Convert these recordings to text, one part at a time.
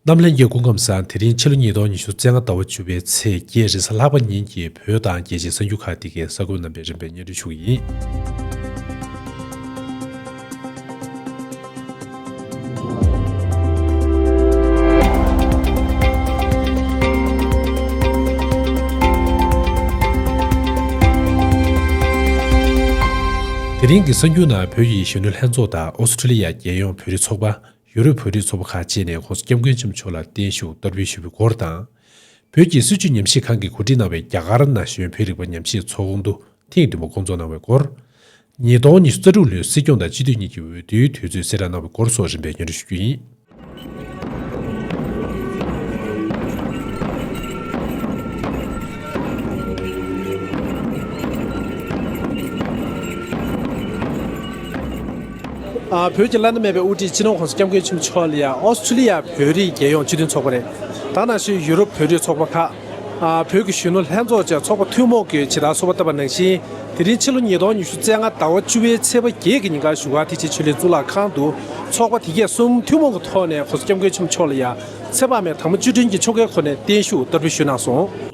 གནམ་ལྷན་རྒྱལ་སྐུ་ཁམས་བཟང་དེ་རིང་ཕྱི་ལོ་ཉིས་སྟོང་ཉི་ཤུ་རྩེ་ལྔ་ཟླ་བ་བཅུ་པའི་ཚེས་བརྒྱད་རེས་གཟའ་ལྷག་པ་ཉིན་གྱི་བོད་དང་རྒྱལ་སྤྱིའི་གསར་འགྱུར་ཁག་དེ་གའི་ས་ཁུལ་རྣམ་པའི་རིམ་པའི་སྙན་སྒྲོན་ཞུ་གི་ཡིན། དེ་རིང་གི་གསར་འགྱུར་ནང་བོད་ཀྱི་གཞོན་ནུ་ལྷན་ཚོགས་དང་ཨོ་སི་ཁྲི་ལི་ཡ་རྒྱལ་ཡོངས་བོད་རིགས་ཚོགས་པ། ཡུ་རོབ་བོད་རིགས་ཚོགས་པ་ཁག་བཅས་ནས་ཁོང་སྐྱབས་མགོན་ཆེན་པོ་མཆོག་ལ་བརྟན་བཞུགས་གཏོར་འབུལ་ཞུ་བའི་སྐོར་དང། བོད་ཀྱི་སྲིད་བྱུས་ཉམས་ཞིབ་ཁང་གིས་གོ་སྒྲིག་གནང་བའི་རྒྱ་གར་ན་གཞོན་བོད་རིག་པ་ཉམས་ཞིབ་ཚོགས་འདུ་ཐེངས་བདུན་པ་བསྐོང་ཚོགས་གནང་བའི་སྐོར། ཉིས་སྟོང་ཉི་ཤུ་རྩ་དྲུག་ལོའི་སྲིད་སྐྱོང་དང་སྤྱི་འཐུས་གཉིས་ཀྱི་འོས་བསྡུའི་དུས་ཚོད་གསལ་བསྒྲགས་གནང་བའི་སྐོར་སོགས་རིམ་པས་སྙན་སྒྲོན་ཞུ་རྒྱུ་ཡིན། བོད་ཀྱི་བླ་ན་མེད་པའི་དབུ་ཁྲིད་སྤྱི་ནོར་ཁོང་སྐྱབས་མགོན་ཆེན་པོ་མཆོག་ལ་ཡང་ཨོ་སི་ཁྲུ་ལི་ཡ་བོད་རིགས་རྒྱལ་ཡོངས་སྤྱི་མཐུན་ཚོགས་པ་རེད་དང་ནང་ཆོས་ཡུ་རོབ་བོད་རིགས་ཚོགས་པ་ཁག། བོད་ཀྱི་གཞོན་ནུ་ལྷན་ཚོགས་བཅས་ཚོགས་པ་ཐུན་མོང་གིས་ཇི་ལྟར་གསོལ་བ་བཏབ་པ་ནང་བཞིན་དེ་རིང་ཕྱི་ལོ་ཉིས་སྟོང་ཉི་ཤུ་རྩེ་ལྔ་ཟླ་བ་བཅུ་བའི་ཚེས་པ་བརྒྱད་ཀྱི་ཉིན་ཀར་བཞུགས་སྒར་ཐེག་ཆེན་ཆོས་ལེགས་གཙུག་ལག་ཁང་དུ་ཚོགས་པ་དེ་གས་གསུམ་ཐུན་མོང་གི་ཐོག་ནས་ཁོང་སྐྱབས་མགོན་ཆེན་པོ་མཆོག་ལ་ཡང་ཚེ་དཔག་མེད་དང་པོ་བཅུ་དྲུང་གི་ཆོ་གའི་འཁོར་ནས་བརྟན་བཞུགས་བསྟར་འབུལ་ཞུས་གནང་སོང།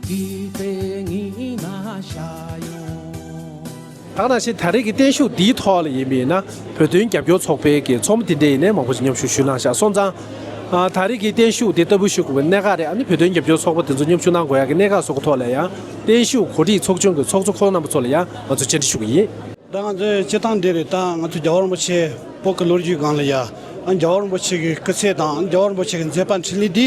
དུས་ཚོད་ངེས་ན་བཞག་ཡོང། ད་ནང་བཞིན་ད་རེས་ཀྱི་བརྟན་བཞུགས་འདིའི་ཐོག་ལ་ཡིན་པས་ན་བོད་དོན་རྒྱབ་སྐྱོར་ཚོགས་པའི་ཀྱི་ཚོགས་མི་དེ་འདྲས་ཡིན་ནའི་མང་པོ་ཞིག་མཉམ་ཞུགས་ཞུས་གནང་བཞག་སོང་ཙང། ད་རེས་ཀྱི་བརྟན་བཞུགས་དེ་ལྟ་བུ་ཞུགས་དགོས་པའི་གནད་འགག་རེད་ཨ་ནི་བོད་དོན་རྒྱབ་སྐྱོར་ཚོགས་པ་དེ་ཚོ་མཉམ་ཞུགས་གནང་དགོས་ཡག་གི་གནད་འགག་སོགས་ཀྱི་ཐོག་ལ་ཡང་བརྟན་བཞུགས་གོ་སྒྲིག་ཚོགས་ཆུང་གི་ཚོགས་གཙོ་ཁོང་རྣམ་པ་ཚོ་ལ་ཡང་ང་ཚོ་བཅར་འདྲི་ཞུ་གི་ཡིན། ད་ང་ཚོའི་སྤྱི་ཐང་འདི་རེད་ད་ང་ཚོ་རྒྱ་བོད་རིན་པོ་ཆེ་པོ་ཀྱི་ལོ་རྒྱུས་སྒང་ལ་ཡ་ཨ་ནི་རྒྱ་བོད་རིན་པོ་ཆེ་ཀྱི་སྐུ་ཚེ་དང་ཨ་ནི་རྒྱ་བོད་རིན་པོ་ཆེ་ཀྱི་མཛད་པ་འཕྲིན་ལས་འདི་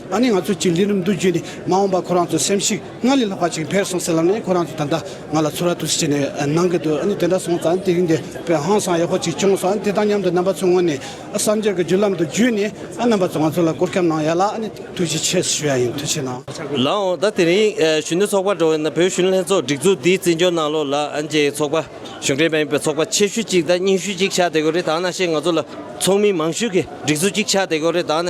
ད་ནི་ང་ཚོས་ཅིག་ལི་རུམ་དུ་བརྒྱུད་ནས་མ་འོངས་པར་ཁོ་རང་ཚོ་སེམས་ཤིག་སྔར་ལས་ལྷག་པ་ཅིག་འཕེལ་སོང་ཟེར་ལབ་ནས་ཁོ་རང་ཚོ་ད་ལྟ་ང་ལ་ཚུར་ར་ཐུག་སེ་བྱས་ནས་གནང་གི་འདུག་ཨ་ནི་དེ་འདྲ་སོང་ཙང་དེ་རིང་འདི་བོད་ཧང་སང་ཡག་པོ་ཅིག་བྱུང་སོང་ཨ་ནི་དེ་དང་མཉམ་དུ་རྣམ་པ་ཚོའི་ངོས་ནས་གསར་འགྱུར་གྱི་བརྒྱུད་ལམ་དུ་བརྒྱུད་ནས་ཨ་རྣམ་པ་ཚོ་ང་ཚོ་ལ་བཀོར་ཁྱབ་གནང་ཡ་ལ་ཨ་ནི་ཐུགས་རྗེ་ཆེ་ཞུ་ཡ་ཡིན་ཐུགས་ཆེ་གནང། ལགས་འོ་ད་དེ་རིང་གཞོན་ནུ་ཚོགས་པ་འགྲོ་བས་ན་བོད་གཞོན་ལྷན་ཚོགས་སྒྲིག་འཛུགས་འདིའི་རྩིས་འཇོག་གནང་ལོ་ལ་ཨ་ནི་ཅེས་ཚོགས་པ་གཞུང་འབྲེལ་མ་ཡིན་པའི་ཚོགས་པ་ཆེ་ཤོས་ཅིག་དང་རྙིང་ཤོས་ཅིག་ཆགས་བསྡད་གོ་རེ་ད་ན་ཤེས་ང་ཚོ་ལ་ཚོགས་མི་མང་ཤོས་ཀྱི་སྒྲིག་འཛུགས་ཅིག་ཆགས་བསྡད་གོ་རེ་ད་ན།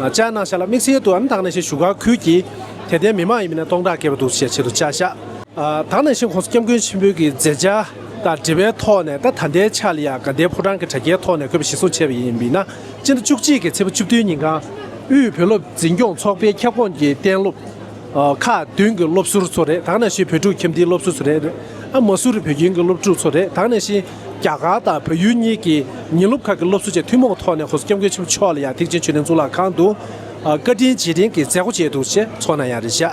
ལྕགས་ནག་ཤ་ལ་དམིགས་བསལ་དུའམ་དྭགས་ནས་ཤིང་བཞུགས་ཁག་ཁུལ་གྱིས་དད་ལྡན་མི་མང་ཡིན་པ་ནས་སྟོང་ཕྲག་བརྒལ་བ་འདུག་ཅེས་ཆེད་དུ་བཅའ་བཞག། དྭགས་ནས་ཤིང་ཁོངས་སུ་སྐྱབས་མགོན་ཆེན་པོའི་གི་མཛེས་ལྕགས་དང་འབྲེལ་བའི་ཐོག་ནས་ད་ད་ལྟའི་ཆར་ལ་ཡང་དགའ་ལྡན་ཕོ་བྲང་གི་དྲ་རྒྱའི་ཐོག་ནས་འཁོད་པ་ཞིག་བཟོ་བྱས་པ་ཡིན་པས་ན་སྤྱི་ཟླ་བཅུ་གཅིག་གི་ཚེས་བཅུ་བདུན་ཉིན་ཁང་དབུས་བོད་སློབ་འཛིན་སྐྱོང་ཚོགས་པའི་ཁྱབ་ཁོངས་ཀྱི་གཏན་སློབ་ཁག་བདུན་གྱི་སློབ་ཟུར་ཚོ་རེ་དྭགས་ནས་ཤིང་བོད་ཕྲུག་ཁྱིམ་སྡེའི་སློབ་ཟུར་ཚོ་རེ་རེ་དམའ་ཟུར་བོད་ཁྱིམ་གྱི་སློབ་ཕྲུག་ཚོ་རེ་དྭགས་ནས་ཤིང། རྒྱ་གར་དང་བོད་ཡུལ་གཉིས་ཀྱི་ཉིན་སློབ་ཁག་གི་སློབ་གསོ་བཅས་ཐུན་མོང་ཐོག་ནས་གོ་ས་སྐྱབས་མགོན་ཆེན་པོ་མཆོག་ལ་ཡང་ཐེག་ཆེན་ཆོས་ལྡན་གཙུག་ལག་ཁང་དུ་བཀའ་དྲིན་རྗེས་དྲན་གྱི་མཛད་སྒོ་བྱས་འདུག་ཅེས་ཚོགས་ནང་ཡང་རེ་བཞག་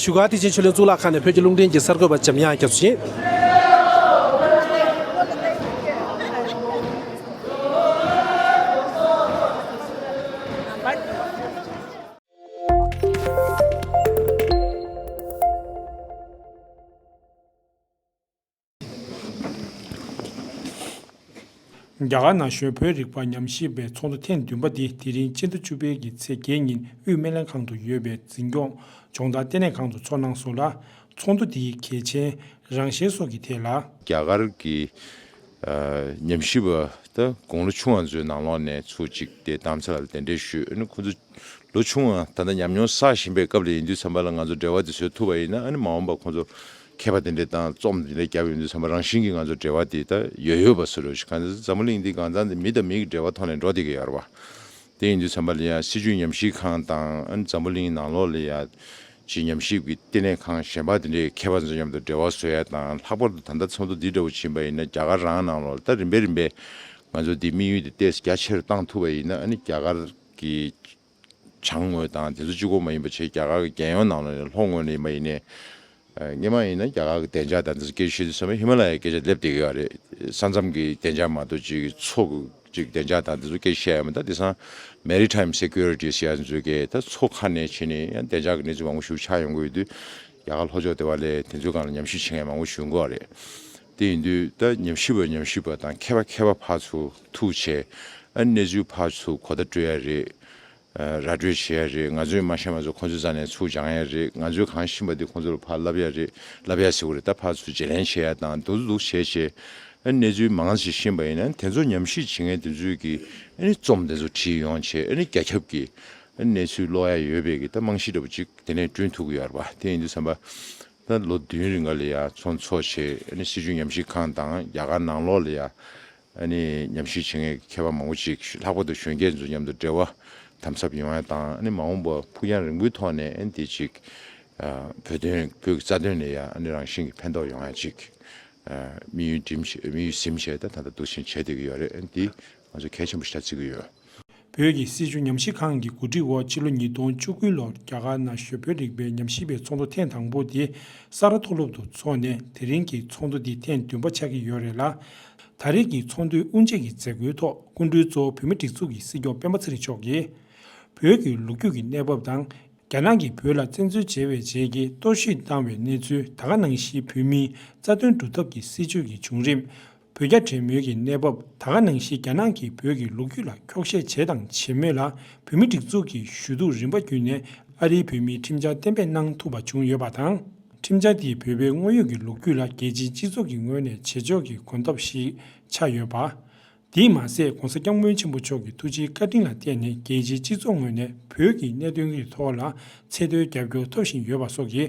ཞུས་ཁར་ཐེག་ཆེན་ཆོས་ལྡན་གཙུག་ལག་ཁང་ནས་བོད་ཀྱི་རླུང་འཕྲིན་གྱི་གསར་འགོད་པ་འཇམ་དབྱངས་རྒྱ་མཚོ་བཞིན། རྒྱ་གར་ན་གཞོན་བོད་རིག་པ་ཉམས་ཞིབ་པའི་ཚོགས་འདུ་ཐེངས་བདུན་པ་འདི་དེ་རིང་ཕྱི་ཟླ་བཅུ་པའི་གི་ཚེས་བརྒྱད་ཉིན་དབུས་སྨན་ལས་ཁང་དུ་ཡོད་པའི་འཛིན་སྐྱོང་སྦྱོང་བརྡར་ལྟེ་གནས་ཁང་དུ་ཚོགས་གནང་སོང་ལ། ཚོགས་འདུ་འདིའི་གལ་ཆེན། རང་བཞིན་སོགས་ཀྱི་ཐད་ལ། རྒྱ་གར་གྱི་ཉམས་ཞིབ་པ་དང་དགུང་ལོ་ཆུང་བ་ཚོའི་ནང་ལོགས་ནས་ཚོུད་གཅིག་དེ་དམ་ཚིག་ལ་གདན་འདྲེན་ཞུས་ཁོ་ཚོ་ལོ་ཆུང་བ་ད་ལྟ་ཉམས་མྱོང་བསགས་བཞིན་པའི་སྐབས་ལ་ཡིན་དུས་ཚན་པ་ལ་ང་ཚོ་འབྲེལ་བ་དེ་བཟོས་ཐུབ་པ་ཡིན་ན་ཨ་ནི་མ་འོངས་པར་ཁོ་ཚོར་མཁས་པ་དེ་འདྲའི་སྟངས་རྩོམ་དེ་འདྲ་རྒྱབ་ཡོད་འདུག་བསམ་པ་རང་བཞིན་གྱིས་ང་ཚོར་འབྲེལ་བ་དེ་ད་ཡོད་ཡོད་པ་སུ་རེད་ཤེས་ག་ཚོད་འཛམ་བུ་གླིང་འདི་གང་ཙམ་དེ་མི་དང་མི་གི་འབྲེལ་བ་ཐོག་ནས་འགྲོ་དེ་གི་ཡར་བ་དེ་ཡིན་འདུག་བསམ་པ་ལ་ཡང་སྲིད་ཇུས་ཉམས་ཞིབ་ཁང་དང་འཛམ་བུ་གླིང་ནང་ལོགས་ལ་ཡང་ཅི་ཉམས་ཞིབ་ཀྱི་ལྟེ་གནས་ཁང་གཞན་པ་དེ་འདྲའི་མཁས་པ་ཚོ་མཉམ་དུ་འབྲེལ་བ་བཟོ་ཡ་དང་ལྷག་པར་དུ་ད་ལྟ་ཚོགས་འདུ་འདི་འདྲ་བོ་བྱིན་པ་ཡིན་ན་རྒྱ་གར་རང་ནང་ལོགས་ལ་ད་རིམ་པས་རིམ་པས་ང་ཚོ་འདི་དམིགས་ཡུལ་དེ་སྟེས་རྒྱ་ཆེ་རུ་བཏང་ཐུབ་པ་ཡིན་ན་ཨ་ནི་རྒྱ་གར་གྱི་བྱང་ངོས་དང་དེ་ཚོ་སྤྱི་ཁོག་མ་ཡིན་པ་བྱེས་རྒྱ་གར་གྱི་རྒྱལ་ཡོངས་ནང་ལ་ནས་ལྷོ་ངོས་ནས་ཡིན་པ་ཡིན། སྙེ་མ་ཡིན་ན་རྒྱ་གར་གྱི་བདེ་འཇགས་དང་དེ་ཚོ་སྐད་ཤེས་དུས་སམ་ཧི་མ་ལ་ཡའི་སྐད་ཆ་སླེབས་བསྡད་གི་ཡོད་རེད། ས་མཚམས་ཀྱི་བདེ་འཇགས་མ་གཏོགས་སྤྱི་གི་ཚོགས་ཀྱི་བདེ་འཇགས་དང་དེ་ཚོ་སྐད་ཤེས་ཡ་མེད་ད་དེ་སང Maritime Securities ཡ་ཚོ་མཛོད་དགེ་ད་ཚོ་ཁ་ནས་བྱེས་ནས་ཡང་བདེ་འཇགས་ཀྱི་གནས་ཚུལ་མང་པོ་ཞུ་ཆགས་ཡོང་གི་ཡོད་དུས། རྒྱ་གར་ལྷོ་ཕྱོགས་ལྟེ་བ་ལས་དེ་ཚོའི་སྒང་ལ་ཉམས་ཞིབ་བྱེད་མཁན་མང་པོ་བཞུགས་འགོ་བ་རེད། དེ་ཡིན་དུས་ད་ཉམས་ཞིབ་པ་ཉམས་ཞིབ་པ་དང་མཁས་པ་མཁས་པ་ཕག་ཚུ་ཐུག་བྱས། གནས་ཚུལ་ཕག་ཚུགས་གོ་བརྡ་སྤྲོད་ཡ་རེད། ར་སྤྲོད་བྱེད་ཡ་རེད་ང་ཚོའི་མ་ཤ་མ་ཚོ་ཁོང་ཚོའི་རྩ་ནས་ཚུགས་སྦྱང་ཡ་རེད་ང་ཚོའི་གང་ཤེས་པ་དེ་ཁོང་ཚོ་ལ་ཕར་ལབ་ཡ་རེད་ལབ་ཡ་ཟེར་གོ་རེད་ད་ཕག་ཚུགས་བརྗེ་ལེན་བྱེད་ཡ་དང་འདུག་འདུག་བྱས་བྱས། གནས་ཚུལ་མང་ཞིག་ཤེས་པ་ཡིན་ན་དེ་ཚོ་ཉམས་ཞིབ་བྱེད་མཁན་དེ་ཚོས་ཀྱིས་རྩོམ་དེ་ཚོ་བྲིས་ཡོང་བྱས་རྒྱ་ཁྱབ་ཀྱིས་གནས་ཚུལ་ཀློག་ཡ་ཡོད་པས་ཀྱི་ད་རྨང་གཞི་འདྲ་པོ་ཅིག་དེ་ནས་བསྐྲུན་ཐུབ་ཀྱི་ཡོད་རེད་པ་དེ་ཡིན་དུས་བསམ་པ། ད་ལོ་བདུན་རིང་ག་ལ་ཡ་ཚོགས་འཚོགས་བྱེད་སྲིད་ཇུས་ཉམས་ཞིབ་ཁང་དང་རྒྱ་གར་ནང་ལོག་ལ་ཡ་ཉམས་ཞིབ་བྱེད་མཁན་མཁས་པ་མང་པོ་ཅིག་ལྷག་པར་དུ་གཞོན་སྐྱེས་ཚོ་མཉམ་དུ་འབྲེལ་བ་དམ་ཟབ་ཡོང་ཡ་དང་མ་འོངས་པར་ཕུགས་རྒྱང་རིང་པོའི་ཐོག་ནས་དེ་ཅིག་བོད་དོན་བོད་ཀྱི་རྩ་དོན་ལ་ཡ་རང་བཞིན་གྱི་ཕན་ཐོགས་ཡོང་ཡ་ཅིག་དམིགས་ཡུལ་གཟིམ་བྱས་ད་ད་ལྟ་འདུག་བཞིན་བྱས་སྡོད་ཀྱི་ཡོད་རེད་དེ་ང་ཚོས་གལ་ཆེན་པོ་ཞིག་ཆགས་བརྩི་གི་ཡོད། བོད་ཀྱི་སྲིད་བྱུས་ཉམས་ཞིབ་ཁང་གི་གོ་སྒྲིག་འོག་ཕྱི་ལོ་ཉིས་སྟོང་བཅུ་དགུ་ལོར་རྒྱ་གར་ན་གཞོན་བོད་རིག་པའི་ཉམས་ཞིབ་པའི་ཚོགས་འདུ་ཐེངས་དང་པོ་དེ་ས་རཱ་མཐོ་སློབ་ཏུ་འཚོགས་ནས་དེ་རིང་གི་ཚོགས་འདུ་འདི་ཐེངས་བདུན་པ་ཆགས་ཀྱི་ཡོད་རེད་ལ། ད་རེས་ཀྱི་ཚོགས་འདུའི་དབུ་འབྱེད་ཀྱི་མཛད་སྒོའི་ཐོག་སྐུ་མགྲོན་གཙོ་བོ་བོད་མི་སྒྲིག་འཛུགས་ཀྱི་སྲིད་སྐྱོང་སྤེན་པ་ཚེ་རིང་མཆོག་གིས། བོད་ཀྱི་ལོ་རྒྱུས་ཀྱི་གནས་བབ་དང་རྒྱ་ནག་གིས་བོད་ལ་བཙན་འཛུལ་བྱས་པའི་རྗེས་ཀྱི་གཏོར་བཤིག་བཏང་བའི་གནས་ཚུལ་ད་ག་ནང་བཞིན་བོད་མིའི་རྩ་དོན་སྒྲུབ་ཐབས་ཀྱི་སྲིད་བྱུས་ཀྱི་བྱུང་རིམ། བོད་རྒྱ་འབྲེལ་མོལ་གྱི་གནས་བབ་ད་ག་ནང་བཞིན་རྒྱ་ནག་གིས་བོད་ཀྱི་ལོ་རྒྱུས་ལ་འཁྱོག་བཤད་བྱས་དང་བྱེད་མོད་ལ་བོད་མི་སྒྲིག་འཛུགས་ཀྱི་ཞུ་གཏུག་རིམ་པ་བརྒྱུད་ནས་ཨ་རིའི་བོད་མིའི་ཁྲིམས་འཆར་གཏན་འབེབས་གནང་ཐུབ་པ་བྱུང་ཡོད་པ་དང། ཁྲིམས་འཆར་དེས་བོད་པའི་དངོས་ཡོད་ཀྱི་ལོ་རྒྱུས་ལ་རྒྱལ་སྤྱིའི་སྤྱི་ཚོགས་ཀྱི་ངོས་ནས་བྱེད་ཕྱོགས་ཀྱི་གོམ་སྟབས་ཤིག་ཆགས་ཡོད་པ། དེས་མ་ཟད ྋགོང་ས ྋསྐྱབས་མགོན་ཆེན་པོ་མཆོག་གི་ཐུགས་རྗེའི་བཀའ་དྲིན་ལ་བརྟེན་ནས་རྒྱལ་སྤྱིའི་སྤྱི་ཚོགས་ངོས་ནས་བོད་ཀྱི་གནད་དོན་གྱི་ཐོག་ལ་ཚད་མཐོའི་རྒྱབ་སྐྱོར་ཐོབ་བཞིན་ཡོད་པ་སོགས་ཀྱིས་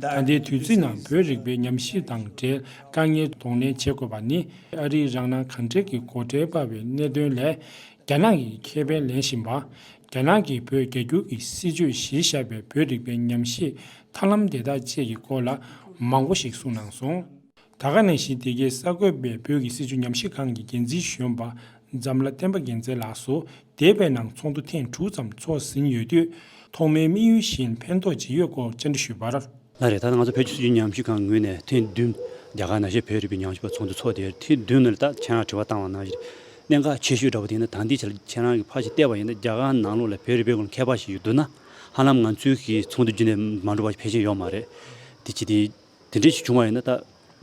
ད་ལྟའི་དུས་ཚིགས་ནང་བོད་རིག་པའི་ཉམས་ཞིབ་དང་འབྲེལ་དཀའ་ངལ་གདོང་ལེན་བྱེད་དགོས་པ་ནི་ཨ་རིའི་རང་སྣང་གང་དྲན་གྱི་སྒོ་ཁྲལ་སྤར་བའི་གནད་དོན་ལས། རྒྱ་ནག་གིས་ཁེ་ཕན་ལེན་བཞིན་པ། རྒྱ་ནག་གིས་བོད་རྒྱ་སྒྱུར་གྱི་སྲིད་ཇུས་གཞིར་བཞག་པའི་བོད་རིག་པའི་ཉམས་ཞིབ་ཐབས་ལམ་དེ་དག་བཅས་ཀྱི་སྐོར་ལ་མང་པོ་ཞིག་གསུངས་གནང་སོང། ད་ག་ནས་བཞིན་དེ་གའི་གསར་འགོད་པས་བོད་ཀྱི་སྲིད་བྱུས་ཉམས་བཞེས་ཁང་གི་འགན་འཛིན་གཞོན་པ་འཛམ་བླ་བསྟན་པ་རྒྱལ་མཚན་ལགས་སུ་འདས་པའི་ནང་ཚོགས་འདུ་ཐེངས་དྲུག་ཙམ་ཚོགས་ཟིན་ཡོད་དུས། ཐོག་མའི་དམིགས་ཡུལ་བཞིན་ཕན་ཐོགས་ཇི་ཡོད་སྐོར་བཅར་འདྲི་ཞུས་པར། ལན་རེར་ད་ལྟ་ང་ཚོ་བོད་ཀྱི་སྲིད་བྱུས་ཉམས་བཞེས་ཁང་ངོས་ནས་ཐེངས་བདུན། རྒྱ་གར་ནང་ཤེས་བོད་རིག་པའི་ཉམས་བཞེས་པ་ཚོགས་འདུ་ཚོགས་དེར་ཐེངས་བདུན་ནས་ད་ལྟ་ཁྱེད་རང་དྲི་བ་བཏང་བ་ནང་བཞིན། གནད་འགག་ཆེ་ཤོས་འདྲ་པོ་དེ་ནི་ད་ལྟའི་ཆར་ཁྱེད་རང་གིས་ཕར་ཞིག་བལྟས་པ་ཡིན་ན་རྒྱ་གར་ནང་ལོགས་ལ་བོད་རིག་པའི་སྐོར་མཁས་པ་ཞིག་ཡོད་འདུག་ན། ཧ་ལམ་ང་ཚོའི་གིས་ཚོགས་འདུ་རྒྱུན་ལས་མ་འགྲོ་བ་ཕལ་ཆེར་ཡོད་མ་རེད། དེ་ཅི་སྟེ། དེ་འདྲའི་ཞིག་བྱུང་བ་ཡིན་ན་ད།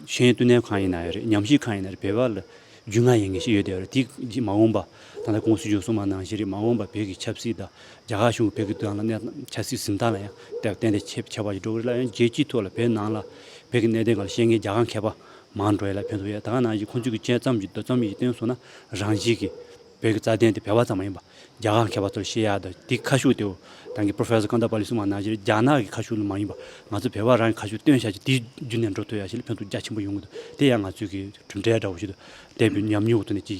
གཞན་ཡང་བསྟུན་ནས་གང་ཡིན་ན་ཡང་རེད་ཉམས་ཞིབ་གང་ཡིན་ན་རེད་བོད་པ་ལ། རྒྱུས་མངའ་ཡིན་མཁན་ཞིག་ཡོད་དེ་རེད་དེ་མ་འོངས་པ། ད་ལྟ་ཀུང་སི་བཞུགས་སོང་མ་གནང་བཞིན་རེད་མ་འོངས་པ་བོད་ཀྱི་ཆབ་སྲིད་དང། རྒྱ་གར་གཞུང་གི་བོད་ཀྱི་དོན་ལ་གནས་སྟངས་ཆབ་སྲིད་གཟིམས་སྟངས་ལ་ཡང་དེ་བརྟེན་ཏེ་ཆེ་ཆེ་བ་ཞིག་འགྲོ་གི་རེད་ལ་ཡང་རྒྱལ་སྤྱིའི་ཐོག་ལ་བོད་ནང་ལ། བོད་ཀྱི་གནད་དོན་གང་ལ་ཤེས་མཁན་རྒྱ་གར་མཁས་པ། མང་འགྲོ་ཡས་ལ་ཕན་ཐོག་ཡས་ད་ག་ནང་བཞིན་ཁོང་ཚོས་ཀྱི་དཔྱད་རྩོམ་གྱི་འདོད་རྩོམ་ཡིག་བཏོན་སོང་ན་རང་བཞིན་གྱིས། བོད་ཀྱི་རྩ་དོན་དེ་བོད་པ་ཙམ་མ་ཡིན་པ་རྒྱ་གར་མཁས་པ་ཚོར་ཤེས་ཡག་དང་དེའི་ཁ་ཤུགས་དེའོ། རང་གི Professor Kandapalli གསུངས་པ་ནང་བཞིན་རྒྱ་ནག་གི་ཁ་ཤུགས་ལ་མ་ཡིན་པ་ང་ཚོ་བོད་པ་རང་གི་ཁ་ཤུགས་སྟོན་བྱ་ཆེད་དེའི་རྒྱུ་ནས་འགྲོ་ཐུབ་ཡག་ཤེས་ལ་ཕན་ཐོགས་རྒྱ་ཆེན་པོ་ཡོང་གི་འདུག་དེ་ཡང་ང་ཚོས་ཀྱི་གྲུབ་འབྲས་འདྲ་བོ་ཞིག་ཏུ་བསྟན་པའི་ཉམས་མྱོང་ཐོག་ནས་ཀྱི་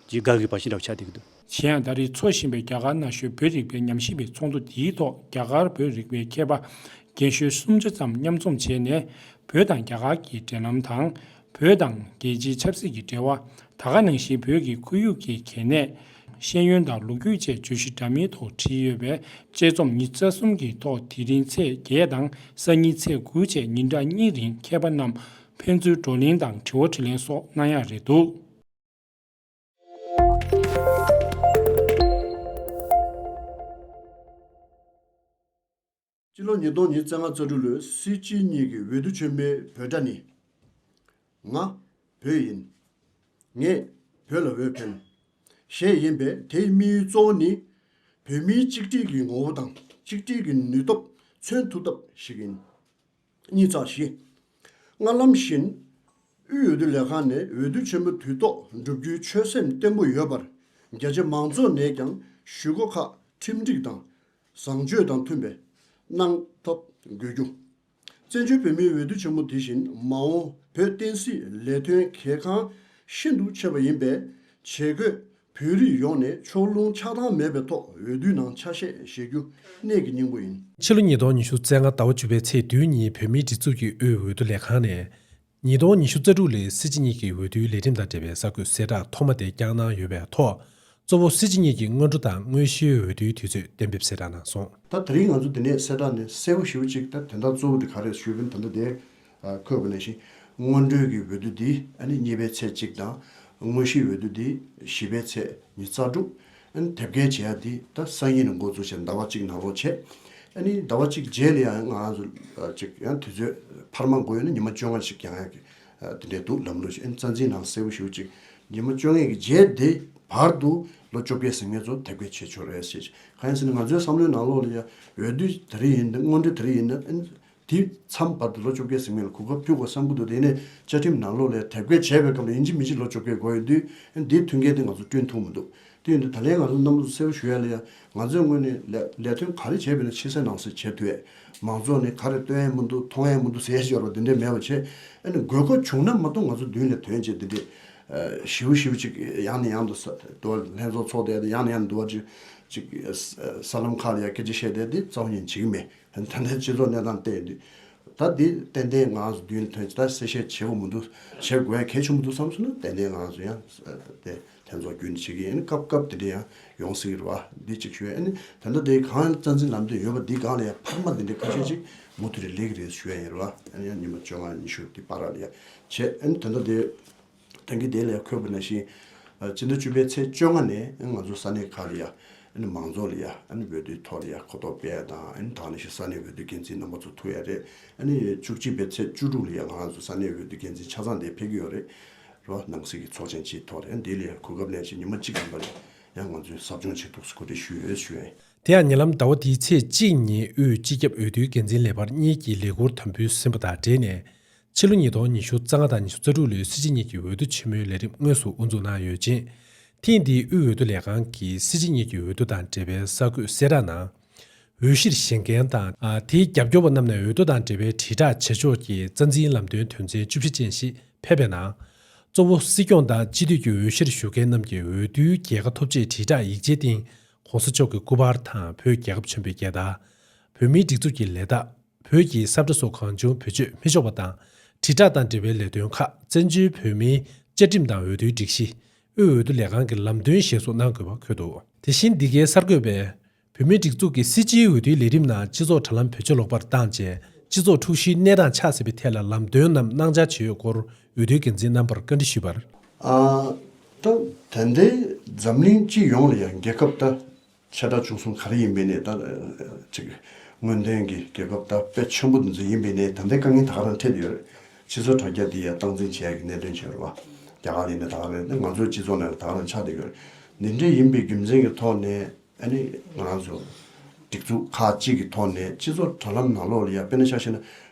ཀྱི་དགའ་གི་བ་ཞིག་འདྲ་བོ་ཆགས་བསྡད་ཀྱི་འདུག། གཞན་ཡང་ད་རེས་འཚོགས་བཞིན་པའི་རྒྱ་གར་ན་གཞོན་བོད་རིག་པའི་ཉམས་ཞིབ་པའི་ཚོགས་འདུ་འདིའི་ཐོག་རྒྱ་གར་བོད་རིག་པའི་མཁས་པ་རྒན་གཞོན་སུམ་ཅུ་ཙམ་མཉམ་འཛོམས་བྱས་ནས་བོད་དང་རྒྱ་གར་གྱི་འབྲེལ་ལམ་དང་བོད་དང་རྒྱལ་སྤྱིའི་ཆབ་སྲིད་ཀྱི་འབྲེལ་བ། ད་ག་ནང་བཞིན་བོད་ཀྱི་ཁོར་ཡུག་གི་གལ་གནད། ཤེས་ཡོན་དང་ལོ་རྒྱུས་བཅས་བརྗོད་གཞི་འདྲ་མིན་ཐོག་བྲིས་ཡོད་པས་དཔྱད་རྩོམ་ཉིན་རྩ་གསུམ་གྱི་ཐོག་དེ་རིང་ཚེས་བརྒྱད་དང་གསར་ཉིན་ཚེས་དགུ་བཅས་ཉིན་གྲངས་གཉིས་རིང་མཁས་པ་རྣམས་ཕན་ཚུན་བགྲོ་གླེང་དང་དྲི་བ་དྲིས་ལན་སོགས་གནང་ཡག་རེད་འདུག། སྤྱི་ལོ་ཉིས་སྟོང་ཉིས་བརྩེགས་ལྔ་རྩ་དྲུག་ལོའི་སྲིད་སྤྱི་གཉིས་ཀྱི་འོས་བསྡུ་ཆེན་མོའི་འབོད་སྒྲ་ནི། ང། བོད་ཡིན། ངས། བོད་ལ་འོས་འཕེན། ཞེས་ཡིན་པས་དེའི་དམིགས་ཡུལ་གཙོ་བོ་ནི། བོད་མིའི་གཅིག་སྒྲིལ་གྱི་ངོ་བོ་དང་གཅིག་སྒྲིལ་གྱི་ནུས་སྟོབས་མཚོན་ཐུབ་ཐབས་ཤིག་ཡིན། གཉིས་བརྩེགས་བཞི། ལྔ་ལམ་བཞིན། དབུས་འོས་བསྡུ་ལས་ཁང་ནས་འོས་བསྡུ་ཆེན་མོ་དུས་ཐོག་བསྒྲུབ་རྒྱུའི་ཆོད་སེམས་བརྟན་པོ་ཡོད་པར། རྒྱ་ཆེ་མང་ཚོགས་ནས་ཀྱང་ཞུ་སྒོ་ཁག་ཁྲིམས་སྒྲིག་དང་བཟང་སྤྱོད་དང་མཐུན་པའི་གནང་ཐོབ་དགོས་རྒྱུ། བཙན་བྱོལ་བོད་མིའི་འོས་བསྡུ་ཆེན་མོ་དེ་བཞིན་མ་འོངས་བོད་བསྟན་སྲིད་ལས་དོན་གལ་འགངས་ཤིན་ཏུ་ཆེ་བ་ཡིན་པས་ཇེ་དགོས་བོད་རིགས་ཡོངས་ནས་ཕྱོགས་ལྷུང་ཆགས་སྡང་མེད་པའི་ཐོག་འོས་བསྡུའི་ནང་ཆ་ཤས་བཞེས་རྒྱུ་གནད་ཀྱི་སྙིང་པོ་ཡིན། ཕྱི་ལོ་ཉིས་སྟོང་ཉི་ཤུ་ཚེས་ལྔ་ཟླ་བ་བཅུ་པའི་ཚེས་བདུན་ཉིན་བོད་མིའི་སྒྲིག་འཛུགས་ཀྱི་དབུས་འོས་བསྡུ་ལས་ཁང་ནས། ཉིས་སྟོང་ཉི་ཤུ་རྩ་དྲུག་ལོའི་སྲིད་སྤྱི་གཉིས་ཀྱི་འོས་བསྡུའི་ལས་ཁྲིམས་དང་འབྲེལ་བའི་གསར་འགོད་གསལ་བསྒྲགས་ཐོག་མ་དེ་བསྐྱངས་གནང་ཡོད་པའི་ཐོག་གཙོ་བོ་སྲིད་སྤྱི་གཉིས་ཀྱི་སྔོན་འགྲོ་དང་དངོས་གཞིའི་འོས་བསྡུའི་དུས་ཚོད་གཏན་འབེབས་གསལ་བསྒྲགས་གནང་སོང། ད་དེ་རིང་ང་ཚོ་འདི་ནས་གསལ་བསྒྲགས་ནི་གསལ་བོ་ཞུ་གཅིག་ད་དོན་དག་གཙོ་བོ་དེ་ག་རེད་ཞུས་པའི་དོན་དག་དེ་ཁོས་གོ་ནས་ཤིང། སྔོན་འགྲོའི་གི་འོས་བསྡུ་འདི་ནི་གཉིས་པའི་ཚེས་གཅིག་དང། དངོས་གཞིའི་འོས་བསྡུ་འདི་བཞི་པའི་ཚེས་ཉིས་རྩ་དྲུག་དེབ་སྐྱེལ་བྱས་ཡ་དེ་ད་སང་ཉིན་ནས་འགོ་འཛུགས་བྱས་ཟླ་བ་གཅིག་ནང་ལོག་བྱས། ནི་ཟླ་བ་གཅིག་རྗེས་ནས་ཡང་ང་རང་ཚོ་ཡང་དུས་ཚོད་འཕར་མ་འགོ་ཡོད་ན་ཉི་མ་བཅོ་ལྔ་ཞིག་ཀྱང་ཡང་དེ་འདྲས་འདུག་ལམ་ལུགས་ཤིག་རྩ་འཛིན་ནང་གསལ་བོ་ཞུ་ཅིག་ཉི་མ་བཅོ་ལྔའི་གི་རྗེས་དེ་བར་དུ་ལོ་བཅོ་བརྒྱད་ཟིན་ངེད་ཚོ་དེབ་སྐྱེལ་བྱེད་ཆོག་རེད་ཟེར་ཅིག་གང་ཡིན་ཟེར་ན་ང་ཚོའི་བསམ་བློའི་ནང་ལོག་ལ་ཡང་འོས་བསྡུ་དེ་རིགས་ཡིན་ན་དངོས་འབྲེལ་དེ་རིགས་ཡིན་ན། དེའི་མཚམས་བར་དུ་ལོ་བཅོ་བརྒྱད་ཟིན་མིན་ལ་གོ་སྐབས་བསྐྱུར་དགོས་བསམ་ཁུལ་དུ་བསྡད་ནས་བཅའ་ཁྲིམས་ནང་ལོག་ལས་དལ་བསྐོས་བྱས་པའི་སྐབས་ལ་ཡིན་གཅིག་མིན་གཅིག་ལོ་བཅོ་བརྒྱད་དགོས་ཡོད་དུས་དེའི་མཐུན་རྐྱེན་དེ་ང་ཚོར་བསྐྲུན་ཐུབ་མི་འདུག་དེ་ཡིན་དུས་ད་ལན་ང་ཚོ་རྣམ་རོལ་དུ་གསལ་བོ་ཞུ་ཡ་ལ་ཡང་ང་ཚོས་སྔོན་ནས་ལས་དོན་ག་རེ་བྱས་པའི་ནང་ཕྱི་གསལ་ནང་གསལ་བྱས་དུས་ཨེ་མང་ཚོགས་ནས་ག་རེ་སྟོན་ཨེ་མི་འདུག་མཐོང་ཨེ་མི་འདུག་ཟེར་ཞེས་བར་པ་འདི་འདྲའི་མེད་པ་བྱས་ཨེ་ནས་དགོས་མཁོ་བྱུང་ན་མ་གཏོགས་ང་ཚོ་མདུན་ལས་དོན་བྱས་འདི་འདྲའི་ཞི་བོ་ཞི་བོ་ཅིག་ཡང་ནས་ཡང་དུ་འདུ་བ་ལྷན་ཚོགས་ཚོགས་བསྡད་དེ་ཡང་ནས་ཡང་དུ་འདུ་བ་ཅིག་གསར་ལམ་ཁག་ལ་ཡང་སྐད་ཆ་བཤད་བསྡད་དེ་རྩ་བ་ཉིད་འཇིག་གི་མེད། ད་ལྟའི་སྤྱི་ཚོགས་གནས་སྟངས་བལྟས་དུས། ད་འདི་ཏན་ཏན་ངང་རྒྱུན་མཐུད་ཇི་ལྟར་གསལ་བཤད་བྱེད་དགོས་མི་འདུག་བྱེད་དགོས་གལ་ཆེ་མི་འདུག་བསམ་སོང་ན་ཏན་ཏན་ངང་ཟོན་ཡང་དེ་ཐེན་ཚོགས་རྒྱུན་བྱེད་ཀྱི་ཡིན་སྐབས་སྐབས་དེ་འདྲ་ཡང་ཡོང་སྲིད་རེད་བ་འདི་གཅིག་ཞུ་ཡ་ཨེ་ནས་ད་ལྟ་དེ་གང་རྩ་འཛིན་ལམ་སྟོན་ཡོད་བ་འདི་སྒང་ལ་ཡང་འཕར་མ་འདི་འདྲའི་ཁ་ཤས་གཅིག་མུ་མཐུད་རེ་ལེགས་རེད་ཞུ་ཡ་ཡིན་རེད་བ་ཨེ་ནས་ཉིན་མ་བཅོ་ལྔ་ཉི་ཤུ་འདི་སྤར་ར་ལ་ཡ་བྱས་ཨེ་ནས་ད་ལྟ་དེ། དོན་གྱི་དེ་ལས་འཁོད་པ་ན་བཞིན་སྤྱི་ཟླ་བཅུ་པའི་ཚེས་བཅོ་ལྔ་ནས་ང་ཚོ་ས་གནས་ཁག་ལ་ཡང་མང་ཚོགས་ལ་ཡང་འོས་བསྡུའི་ཐོག་ལ་ཡང་གོ་རྟོགས་སྤེལ་དང་ད་ནི་བཞིན་ས་གནས་འོས་བསྡུ་འགན་འཛིན་རྣམ་པ་ཚོ་ཐུག་ཡ་རེད། བཅུ་གཅིག་པའི་ཚེས་བཅུ་དྲུག་ལ་ཡང་ང་ཚོ་ས་གནས་འོས་བསྡུ་འགན་འཛིན་ཆ་ཚང་དེ་ཕེབས་ཀྱི་ཡོད་རེད། རོ་ནང་སྲིད་ཀྱི་ཚོགས་ཆེན་སྤྱིའི་ཐོག་ལ་ཡང་དེ་ལས་གོ་སྐབས་ལན་ཞིག་ཉི་མ་གཅིག་ཡིན་པ་ལ་ཡང་ང་ཚོས་ཟབ་སྦྱོང་བྱེད་ཐུགས་སུ་གོ་སྒྲིག་ཞུ་འོས་ཞུ་འོས། དེ་ཡང་ཉེ་ལམ་ཟླ་བ་འདིའི་ཚེས་གཅིག་ཉིན་དབུས་སྤྱི་ཁྱབ་འོས་བསྡུའི་འགན་འཛིན་ལས་འཕར་གཉིས་ཀྱིས་ལས་འཁུར་དམ་འབུལ་ཟིན་པ་དང་འབྲེལ་ནས་ཕྱི་ལོ་ཉིས་སྟོང་ཉི་ཤུ་རྩ་ལྔ་དང་ཉི་ཤུ་རྩ་དྲུག་ལོའི་སྲིད་སྤྱི་གཉིས་ཀྱི་འོས་བསྡུ་ཆེན་མོའི་ལས་རིམ་དངོས་སུ་དབུ་འཛུགས་གནང་ཡོད་ཅིང། ཐེངས་འདིའི་དབུས་འོས་བསྡུ་ལས་ཁང་གིས་སྲིད་སྤྱི་གཉིས་ཀྱི་འོས་བསྡུ་དང་འབྲེལ་བའི་གསར་འགོད་གསལ་བསྒྲགས་ནང། འོས་གཞིར་བཞེངས་མཁན་དང་དེའི་རྒྱབ་སྐྱོར་བ་རྣམས་ནས་འོས་བསྡུ་དང་འབྲེལ་བའི་དྲིལ་བསྒྲགས་བྱེད་ཕྱོགས་ཀྱི་རྩ་འཛིན་ལམ་སྟོན་དོན་ཚན་བཅུ་བཞི་ཅན་ཞིག་ཕེབས་པའི་ནང། གཙོ་བོ་སྲིད་སྐྱོང་དང་སྤྱི་འཐུས་ཀྱི་འོས་གཞིར་ཞུགས་མཁན་རྣམས་ཀྱིས་འོས་བསྡུའི་རྒྱལ་ཁ་ཐོབ་ཆེད་དྲིལ་བསྒྲགས་ཡིག་ཆའི་སྟེང ྋགོང་ས་མཆོག་གི་སྐུ་པར་དང་བོད་རྒྱལ་ཁབ་ཆེན་པོའི་རྒྱལ་དར། བོད་མིའི་སྒྲིག་འཛུགས་ཀྱི་ལས་རྟགས། བོད་ཀྱི་སྲབ་གྲ་སོགས་གང་བྱུང་བེད་སྤྱོད་མི་ཆོག་པ་དང་དྲིལ་བསྒྲགས་དང་འབྲེལ་བའི་ལས་དོན་ཁག་བཙན་བྱོལ་བོད་མིའི་བཅའ་ཁྲིམས་དང་འོས་བསྡུའི་སྒྲིག་གཞི་དབུས་འོས་བསྡུ་ལས་ཁང་གི་ལམ་སྟོན་བཞིན་བཟོ་གནང་དགོས་པ་འཁོད་འདུག། དེ་བཞིན་འདི་གའི་གསར་འགོད་པས་བོད་མིའི་སྒྲིག་འཛུགས་ཀྱི་སྲིད་སྤྱིའི་འོས་བསྡུའི་ལས་རིམ་ནང་སྤྱི་ཚོགས་དྲ་ལམ་བེད་སྤྱོད་ལོག་པར་བཏང་རྗེས་སྤྱི་ཚོགས་འཁྲུག་གཞིའི་གནས་སྟངས་ཆགས་སྲིད་པའི་ཐད་ལ་ལམ་སྟོན་ནམ་གནང་འཆར་ཇི་ཡོད་སྐོར་འོས་བསྡུའི་འགན་འཛིན་རྣམ་པར་བཀའ་འདྲི་ཞུས་པར། ཨ། ད་དེ་འདྲའི་འཛམ་གླིང་སྤྱི་ཡོངས་ལ་ཡང་རྒྱལ་ཁབ་ད་ཆེ་ཕྲ་ཆུང་གསུམ་ག་རེ་ཡིན་པའི་གནས་ད། སྔོན་ཐོན་གྱི་རྒྱལ་ཁབ་དར་སྤེལ་ཆེན་པོ་འདི་ཚོ་ཡིན་པའི་གནས་ད་ལྟའི་དཀའ་ངལ་ད་ག་རང་འཕྲད་དུ་ཡོད་རེད། སྤྱི་ཚོགས་དྲ་རྒྱ་འདི་ཡང་སྟངས་འཛིན་བྱེད་ཡག་གི་གནད་དོན་ཆེན་རེད་བ། རྒྱ་གར་ཡིན་ན་ད་ག་རེད་ང་ཚོའི་སྤྱི་ཚོགས་ནང་ད་ག་རང་ཆགས་དུ་ཡོད་རེད། འདི་འདྲའི་ཡིན་པའི་རྒྱུ་མཚན་གྱི་ཐོག་ནས་ཨ་ནི་ང་རང་ཚོ། སྒྲིག་འཛུགས་ཁག་གཅིག་གི་ཐོག་ནས་སྤྱི་ཚོགས་དྲ་ལམ་ནང་ལོགས་ལ་ཡར་སྤེལ་ན་ཆགས་ཤེས་ན།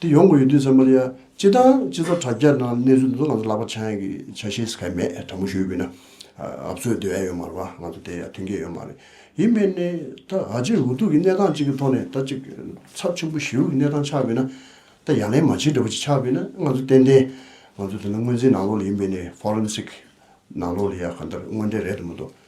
དེ་ཡོང་དགོས་ཡོད་དུས་ཚང་མ་ལ་ཡང་སྤྱི་དང་སྤྱི་ཚོགས་དྲ་རྒྱ་ནང་གནས་ཚུལ་འདི་ཚོ་ང་ཚོ་ལག་པ་འཆང་གི་ཆ་ཤས་སུ་ག་མེད་དྲ་མུ་ཞོལ་དགོས་ན་ཨ་བཙོས་བསྡོད་ཡ་ཡོད་མ་རེད་པ་ང་ཚོ་དེ་ཡ་མཐུན་རྐྱེན་ཡོད་མ་རེད་ཡིན་མིན་ནི་ད་ག་ཅིག་འུ་ཐུག་གི་གནས་སྟངས་གཅིག་གི་ཐོག་ནས་ད་ཅིག་ཚབས་ཆེན་པོ་ཞི་རུལ་གྱི་གནས་སྟངས་ཆགས་དགོས་ན་ད་ཡ་ལན་མ་བྱེད་འདྲ་པོ་ཅིག་ཆགས་དགོས་ན་ང་ཚོ་ཏན་ཏན་ང་ཚོ་དེ་ནི་དངོས་འཛིན་ནང་ལོགས་ལ་ཡིན་མིན་ནི Forensic ནང་ལོགས་ལ་ཡ་ག་འདིར་དངོས་འབྲེལ་རེད་དུ་མི་འདུག།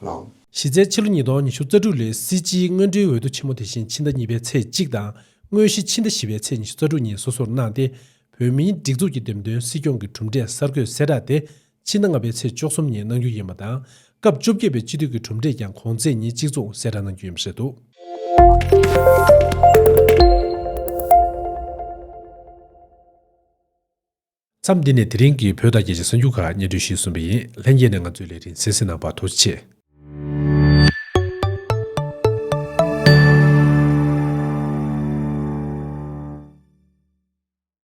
ལངས། གཞི་རྩའི་ཕྱི་ལོ་ཉིས་སྟོང་ཉི་ཤུ་རྩ་དྲུག་ལོའི་སྲིད་སྤྱིའི་སྔོན་འགྲོའི་འོས་བསྡུ་ཆེན་མོ་དེ་བཞིན་ཕྱི་ཟླ་གཉིས་པའི་ཚེས་གཅིག་དང་དངོས་གཞི་ཕྱི་ཟླ་བཞི་བའི་ཚེས་ཉི་ཤུ་རྩ་དྲུག་གཉིས་སོ་སོར་གནང་སྟེ་བོད་མིའི་སྒྲིག་འཛུགས་ཀྱི་འདེམས་ཐོན་སྲིད་སྐྱོང་གི་གྲུབ་འབྲས་གསར་འགོད་གསལ་བསྒྲགས་དེ་ཕྱི་ཟླ་ལྔ་པའི་ཚེས་བཅོ་གསུམ་ཉིན་གནང་རྒྱུ་ཡིན་པ་དང་སྐབས་བཅོ་བརྒྱད་པའི་སྤྱི་འཐུས་ཀྱི་གྲུབ་འབྲས་ཀྱང་གོང་ཚེས་ཉིན་གཅིག་མཚུངས་གསལ་བསྒྲགས་གནང་རྒྱུ་ཡིན་པ་རེད་འདུག། མཚམས་འདི་ནས་དེ་རིང་གི་བོད་དང་རྒྱལ་སྤྱིའི་གསར་འགྱུར་ཁག་སྙན་སྒྲོན་ཞིག་གསུངས་པ་ཡིན། ལྷན་རྒྱས་ནས་ང་ཚོའི་ལས་རིན་གསན་གཟིགས་གནང་བར་ཐུགས་རྗེ་ཆེ།